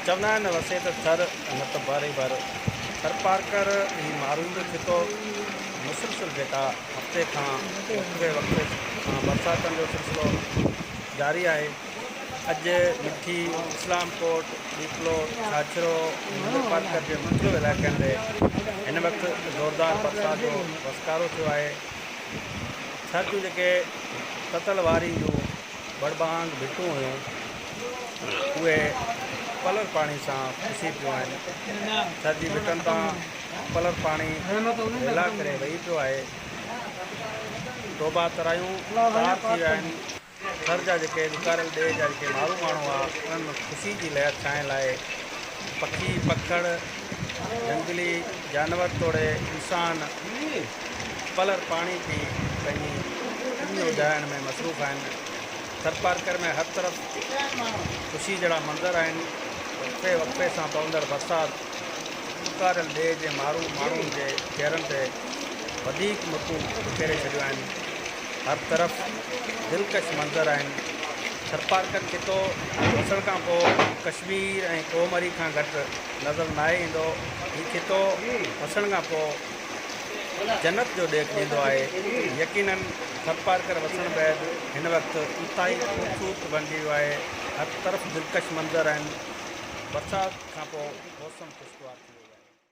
چوندا آهن نه وسي ته ٿر نه ته باري بر. ٿرپارڪر هي معروض خطو مسلسل جيڪا هفتي کان وقفي وقفي سان برساتن جو سلسلو جاري آهي اڄ مٺي، اسلام ڪوٽ، ڏيپلو، ڇاڇرو ۽ نگرپارڪر جي مختلف علائقن تي هن وقت زوردار برسات جو وسڪارو ٿيو آهي ٿر جون جيڪي تتل وارين جون. ٻڙٻانگ ڀٽون هيون، اهي پلر پاڻي سان پسي پيون آهن. ٿر جي ڀٽن تان پلر پاڻي هيلا ڪري وهي پيو آهي. ٽوڀا ترايون تار ٿي ويا آهن. ٿر جا جيڪي ڏڪاريل ڏيهه جا جيڪي مارو ماڻهو هئا، انهن ۾ خوشي جي لهر ڇائڻ لاء پکي پکڙ، جهنگلي جانور توڙي انسان پلر پاڻي ٿي پنهنجي پڃ اجهائڻ ۾ مصروف آهن. ٿرپارڪر ۾ هر طرف خوشي جهڙا منظر آهن. وقفي وقفي سان پوندڙ برسات اڪاريل ڏيهه جي مارو ماڻهن جي چهرن تي وڌيڪ مھڪون ٻکيري ڇڏيون آهن. هر طرف دلڪش منظر آهن. ٿرپارڪر خطو وسڻ کان پوء ڪشمير ۽ ڪوهمري کان گهٽ نظر ناهي ايندو. هي خطو وسڻ کان پوء جنت جو ڏيک ڏيندو آهي. يقينن ٿرپارڪر وسڻ بعد هن وقت انتهائي خوبصورت بڻجي ويو آهي. هر طرف دلڪش منظر آهن. برسات کان پوء موسم خوشگوار ٿي ويو آهي.